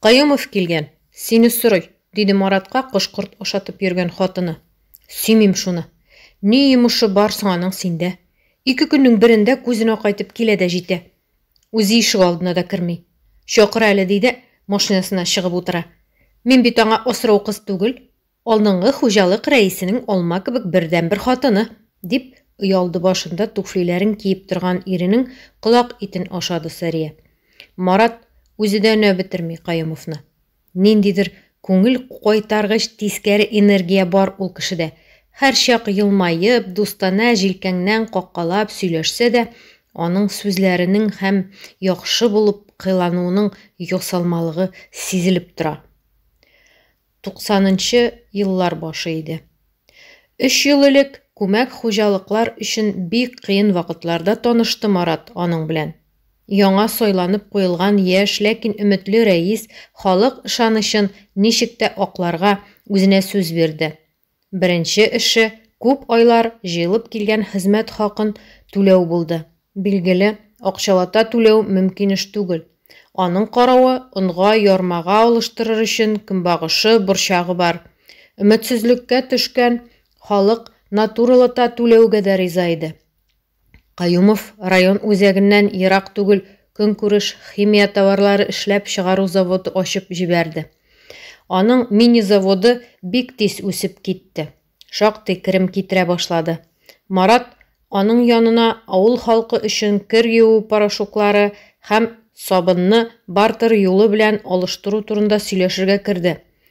Каюмов килгән, сине сорый, диде Маратка кош-корт ашатып йөргән хатыны. Сөймим шуны. Ни йомышы бар соң аның синдә? Ике көннең берендә күзен акайтып килә дә җитә. Үзе ишек алдына да керми. Чакыр әле, ди дә, машинасына чыгып утыра. Мин бит аңа асрау кыз түгел. Алдынгы хуҗалык рәисенең алма кебек бердәнбер хатыны! дип, өйалды башында туфлиләрен киеп торган иренең колак итен ашады Сәрия. Марат үзе дә өнәп бетерми Каюмовны. Ниндидер күңел кайтаргыч тискәре энергия бар ул кешедә. Һәрчак елмаеп, дустанә җилкәңнән каккалап сөйләшсә дә, аның сүзләренең һәм яхшы булып кыйлануының ясалмалыгы сизелеп тора. 90нчы еллар башы иде. Өч ел элек күмәк хуҗалыклар өчен бик кыен вакытларда танышты Марат аның белән. Яңа сайланып куелган яшь, ләкин өметле рәис халык ышанычын ничек тә акларга үзенә сүз бирде. Беренче эше күп айлар җыелып килгән хезмәт хакын түләү булды. Билгеле, акчалата түләү мөмкин эш түгел. Аның каравы, онга ярмага алыштырыр өчен көнбагышы, борчагы бар. Өметсезлеккә төшкән халык натуралата түләүгә дә риза иде. Каюмов район үзәгеннән ерак түгел Көнкүреш химия товарлары эшләп чыгару заводы ачып җибәрде. Аның мини-заводы бик тиз үсеп китте, шактый керем китерә башлады. Марат аның янына авыл халкы өчен кер юу порошоклары һәм сабынны бартер юлы белән алыштыру турында сөйләшергә керде,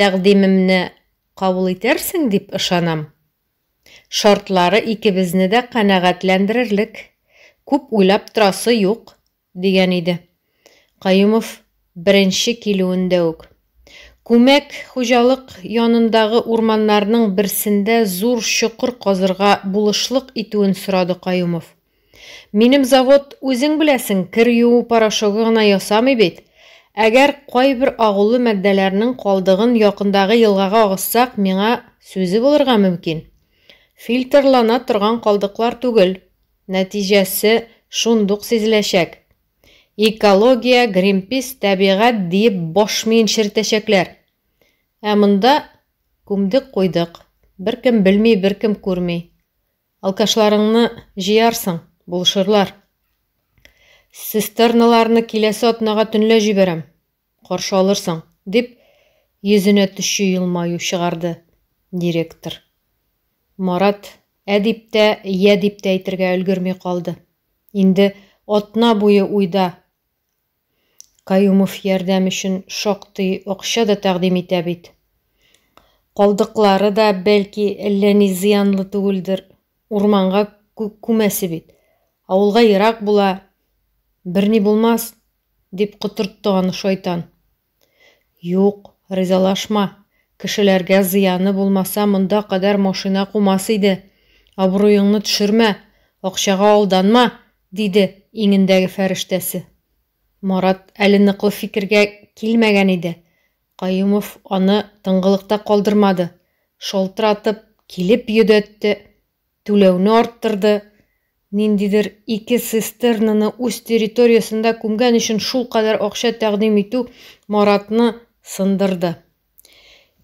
Тәкъдимемне кабул итәрсең дип ышанам. Шартлары икебезне дә канәгатьләндерерлек, күп уйлап торасы юк, дигән иде. Каюмов беренче килүендә үк. Күмәк хуҗалык янындагы урманнарның берсендә зур чокыр казырга булышлык итүен сорады Каюмов. Минем завод, үзең беләсең, кер юу порошогы гына ясамый бит. Әгәр кайбер агулы матдәләрнең калдыгын якындагы елгага агызсак, миңа сүзе булырга мөмкин. Фильтрлана торган калдыклар түгел, нәтиҗәсе шундук сизеләчәк. Экология, Гринпис, тәбигать диеп баш миен черетәчәкләр. Ә монда күмдек куйдык, беркем белми, беркем күрми. Алкашларыңны җыярсың, булышырлар. Цистерналарны киләсе атнага төнлә җибәрәм, каршы алырсың, дип, йөзенә төче елмаю чыгарды директор. Марат ә дип тә, йә дип тә әйтергә өлгерми калды. Инде атна буе уйда Каюмов ярдәм өчен шактый акча да тәкъдим итә бит. Калдыклары да, бәлки, әллә ни зыянлы түгелдер. Урманга күмәсе бит. Авылга ерак була. Берни булмас, дип котыртты аны шайтан. Юк, ризалашма. Кешеләргә зыяны булмаса, монда кадәр машина кумас иде. Абруеңны төшермә, акчага алданма, диде иңендәге фәрештәсе. Марат әле ныклы фикергә килмәгән иде. Каюмов аны тынгылыкта калдырмады, шалтыратып килеп йөдәтте. түләүне арттырды, ниндидер ике цистернаны үз территориясендә күмгән өчен шулкадәр акча тәкъдим итү Маратны сындырды.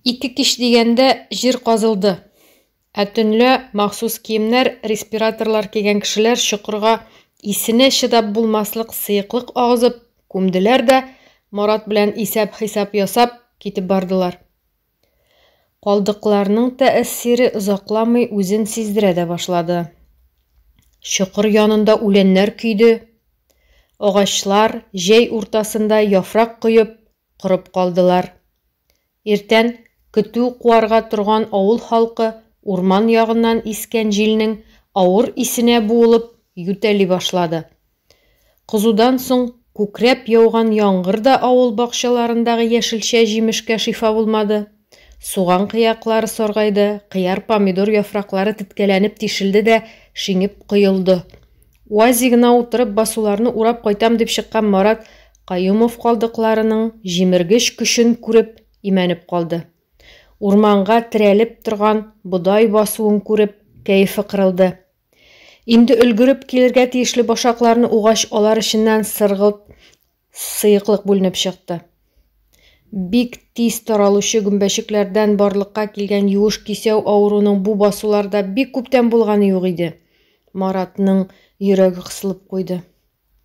Ике кич дигәндә җир казылды. Ә төнлә махсус киемнәр, респираторлар кигән кешеләр чокырга исенә чыдап булмаслык сыеклык агызып, күмделәр дә, Марат белән исәп-хисап ясап, китеп бардылар. Калдыкларның тәэссире озакламый үзен сиздерә дә башлады. Чокыр янында үләннәр көйде, агачлар, җәй уртасында яфрак коеп, корып калдылар. Иртән көтү куарга торган авыл халкы урман ягыннан искән җилнең авыр исенә буылып, ютәли башлады. Кызудан соң күкрәп яуган яңгыр да авыл бакчаларындагы яшелчә-җимешкә шифа булмады. Суган кыяклары саргайды, кыяр-помидор яфраклары теткәләнеп тишелде дә шиңеп коелды. УАЗигына утырып басуларны урап кайтам дип чыккан Марат Каюмов калдыкларының җимергеч көчен күреп имәнеп калды. Урманга терәлеп торган бодай басуын күреп, кәефе кырылды. Инде өлгереп килергә тиешле башакларны угач, алар эченнән сыргылт сыеклык бүленеп чыкты. Бик тиз таралучы гөмбәчекләрдән барлыкка килгән юеш кисәү авыруның бу басуларда бик күптән булганы юк иде. Маратның йөрәге кысылып куйды.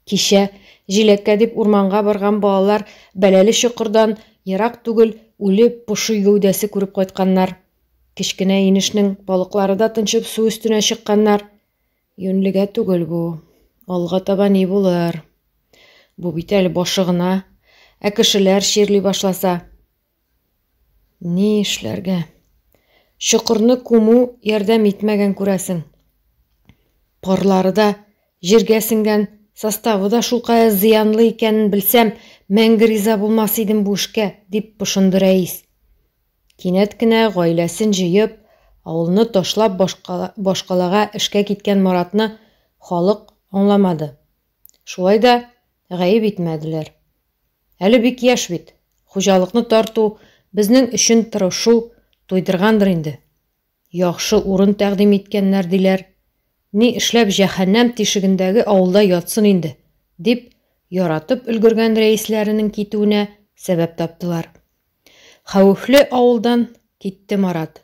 Кичә, җиләккә дип урманга барган балалар бәләле чокырдан ерак түгел үле поши гәүдәсе күреп кайтканнар. Кечкенә инешнең балыклары да тынчып су өстенә чыкканнар. Юньлегә түгел бу. Алга таба ни булыр? Бу бит әле башы гына. Ә кешеләр чирли башласа? Ни эшләргә? Чокырны күмү ярдәм итмәгән күрәсең. Парлары да, җиргә сеңгән составы да шулкая зыянлы икәнен белсәм, мәңге риза булмас идем бу эшкә, дип пошынды рәис. Кинәт кенә гаиләсен җыеп, авылны ташлап башкалага эшкә киткән Маратны халык аңламады. Шулай да гаеп итмәделәр. Әле бик яшь бит, хуҗалыкны тарту, безнең өчен тырышу, туйдыргандыр инде. Яхшы урын тәкъдим иткәннәр, диләр. Ни эшләп җәһәннәм тишегендәге авылда ятсын инде, дип, яратып өлгергән рәисләренең китүенә сәбәп таптылар. Хәвефле авылдан китте Марат.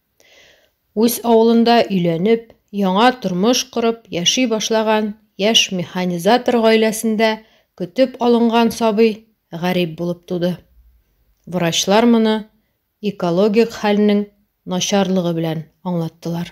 Үз авылында өйләнеп, яңа тормыш корып яши башлаган яшь механизатор гаиләсендә көтеп алынган сабый гарип булып туды. Врачлар моны экологик хәлнең начарлыгы белән аңлаттылар.